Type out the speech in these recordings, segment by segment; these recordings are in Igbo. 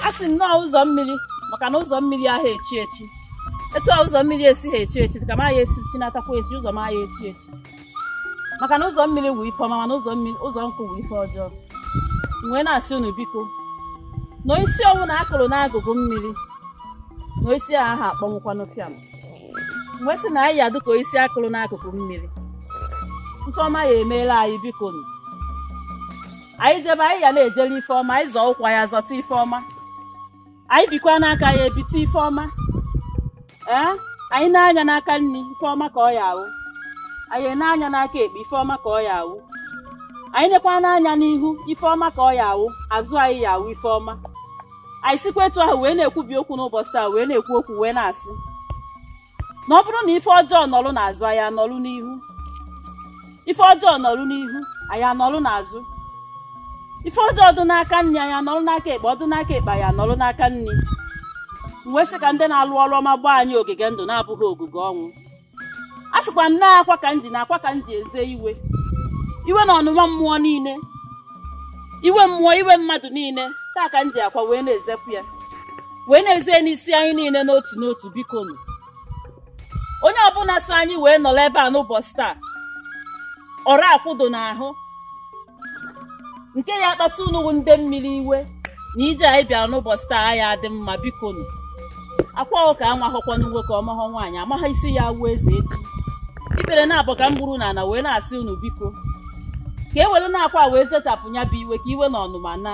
a sị nnọọ ụzọ mmiri maka na ụzọ mmiri aha echi echi etu a ụzọ mmiri esighị echi echi ka m aya esi chinatakwa echi ụzọ m aya echi echi maka na ụzọ mmiri wụ ife ọma mana ụzọ mmiri ụzọ nkụ wụ ife ọjọọ M wee na-asị unu biko na isi ọwụna a kụrụ n'agụgụ mmiri na isi a aha akpọnwụkwanụ pịam M wee sị na anyị ya dịka isi a kụrụ n'akụkụ mmiri nke ọma ya emeela anyị biko nụ anyị jebe anyị ya na-ejere ife ọma anyị zọọ ụkwụ ya zọta ife ọma anyị bikwanụ aka ya ebite ife ọma ee anyị nee anya n'aka nri ife ọma ka ọ ya awụ anyị nee anya n'aka ekpe ife ọma ka ọ ya awụ anyị nekwanụ anya n'ihu ife ọma ka ọ ya awụ azụ anyị ya awụ ife ọma anyị sikwa etu ahụ wee na-ekwubi okwu n'ụbọchị taa wee na-ekwu okwu wee na-asị na ọ bụrụ na ife ọjọọ nọrụ n'azụ anyị anọrụ n'ihu ife ọjọọ nọrụ n'ihu anyị anọrụ n'azụ ife ọjọọ dị n'aka nri anyị anọrụ n'aka ekpe ọ dị n'aka ekpe anyị anọrụ n'aka nri wee sị ka ndị na-alụ ọrụ ọma gbaa anyị ogige ndụ na-abụha ogige ọnwụ a sịkwa m na akwa ka m ji na akwa ka m ji eze iwe iwe na ọnụma mmụọ niile iwe mmụọ iwe mmadụ niile taa ka m ji akwa wee na-ezepụ ya wee na-eze n'isi anyị niile n'otu n'otu biko nụ onye ọbụla so anyị wee nọrọ ebe a n'ụbọchị taa ọrụ akwụdo n'ahụ nke ya akpasu unu bụ ndị mmiri iwe na ije anyị bịara n'ụbọchị taa ya adị mma biko nụ akwa ahụ ka amahọkwanụ nwoke ọ mahọ nwaanyị amaghị isi ya awụ eze echi ikpere naabọ ka m gburu n'ala wee na-asị unu biko ka e werenụ akwa wee zechapụ ya bụ iwe ka iwe na ọnụma na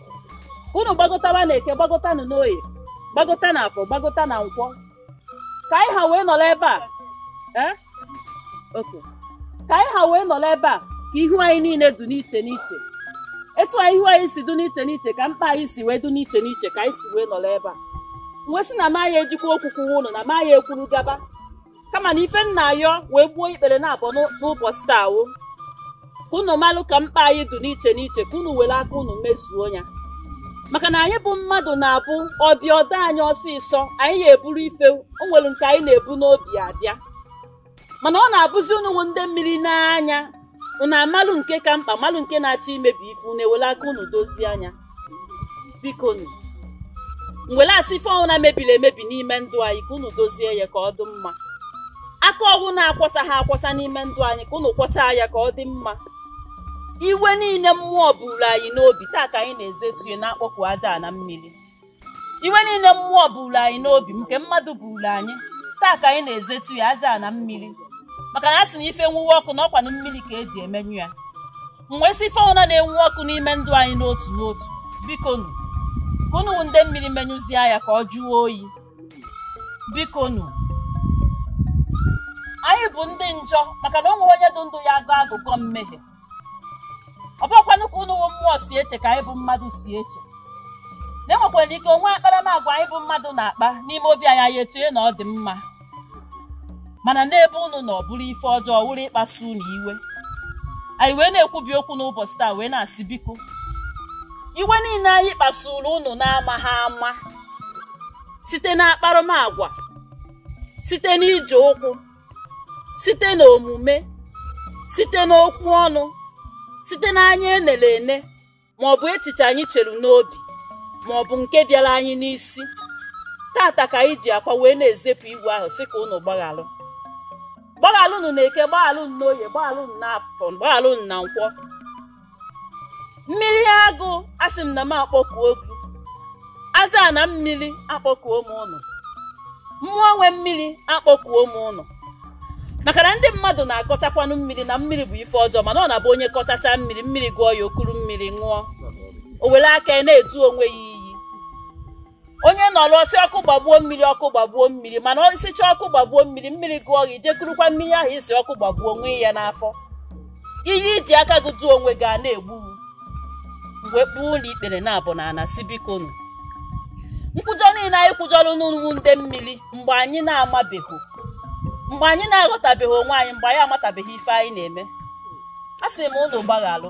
unu gbagotawa na eke gbagotanụ n'oye gbagota na afọ gbagota na nkwọ ka anyị ha wee nọrọ ebe a eh? Okay. ka anyị ha wee nọrọ ebe a ka ihu anyị niile dị n'iche n'iche etu anyị ihu anyị si dị n'iche n'iche ka mkpa anyị si wee dị n'iche n'iche ka anyị si wee nọrọ ebe a m wee sị na m aya ejikwa okwu kwuwa unu na m aya ekwuru gaba kama na ife m na-ayọ wee gbuo ikpere naabọ n'ụ- n'ụbọchị taa wụ ka unu malụ ka mkpa anyị dị n'iche n'iche ka unu were aka unu mezuo ya maka na anyị bụ mmadụ na-abụ ọ bịa ọ dị anyị ọsịsọ anyị ya eburu ife o nwere nke anyị na-ebu n'obi abịa mana ọ na-abụzi unu wụ ndị mmiri nee anya unu amalụ nke ka mkpa malụ nke na-achọ imebi ife unu ewele aka unu dozie ya biko nụ m wele asị ife ọwụna e mebiri emebi n'ime ndụ anyị ka unu dozie ya ka ọ dị mma aka ọwụna akwọchaha akwọcha n'ime ndụ anyị ka unu kwọcha ya ka ọ dị mma iwe niile mmụọ buru anyị n'obi taa ka anyị na-ezetu ya na-akpọpụ aja na mmiri iwe niile mmụọ buru anyị n'obi nke mmadụ buru anyị taa ka anyị na-ezetu ya aja na mmiri maka na a sị na ife nwuwe ọkụ na ọkwanụ mmiri ka eji emenyụ ya m wee sị ife ọbụla na-enwu ọkụ n'ime ndụ anyị n'otu n'otu bikonu ka ụnụ ndị mmiri menyụzie ya ka ọ jụọ oyi bikonu anyị bụ ndị njọ maka na o nwerọ onye dị ndụ ya-agọ agụgọ mmehie ọ bụrọkwanụ ka ụnụ wụ mmụọ si eche ka anyị bụ mmadụ si eche na e nwekwara ike o nwee akparamagwa anyị bụ mmadụ na-akpa n'ime obi anyị anyị echee na ọ dị mma mana n'ebe ụnụ nọ ọ bụrụ ife ọjọọ wụrụ ịkpasu ụnụ iwe anyị wee na-ekwubi okwu n'ụbọchị taa wee na-asị biko iwe niile anyị kpasuru ụnụ na-amaghị ama site na akparamagwa site n'ije ụkwụ site n'omume site n'okwu ọnụ site n'anya enere ene ma ọ bụ echiche anyị chere n'obi ma ọ bụ nke bịara anyị n'isi tata ka anyị ji akwa wee na-ezepụ iwe ahụ sị ka unu gbaghalụ gbaghalụnụ na eke gbaghalụnụ n'oye gbaghalụnụ na afọ gbaghalụnụ na nkwọ mmiri agụ asị m na m akpọkuo gị aja na mmiri akpọkuo m ụnụ mmụọ nwe mmiri akpọkuo m ụnụ maka na ndị mmadụ na-akọchakwanụ mmiri na mmiri bụ ife ọjọọ mana ọ na-abụ onye kọchacha mmiri mmiri gụọ ya o kuru mmiri ṅụọ o were aka na-edu onwe ya iyi onye nọrọ ọ sị ọkụ gbagbuo mmiri ọkụ gbagbuo mmiri mana ị sịcha ọkụ gbagbuo mmiri mmiri gụọ gị i je kurukwa mmiri ahụ ị sị ọkụ gbagbuo ṅụọ ya n'afọ iyi i ji aka gị duo onwe gị a na-egbu m wee kpuo ụnụ ikpere naabọ n'ana sị bikonu nkwụjọ niile anyị kwụjọrọ ụnụ ndị mmiri mgbe anyị na-amabeghị mgbe anyị na-aghọtabeghị onwe anyị mgbe anyị amatabeghị ife anyị na-eme a sị m ụnụ gbaghalụ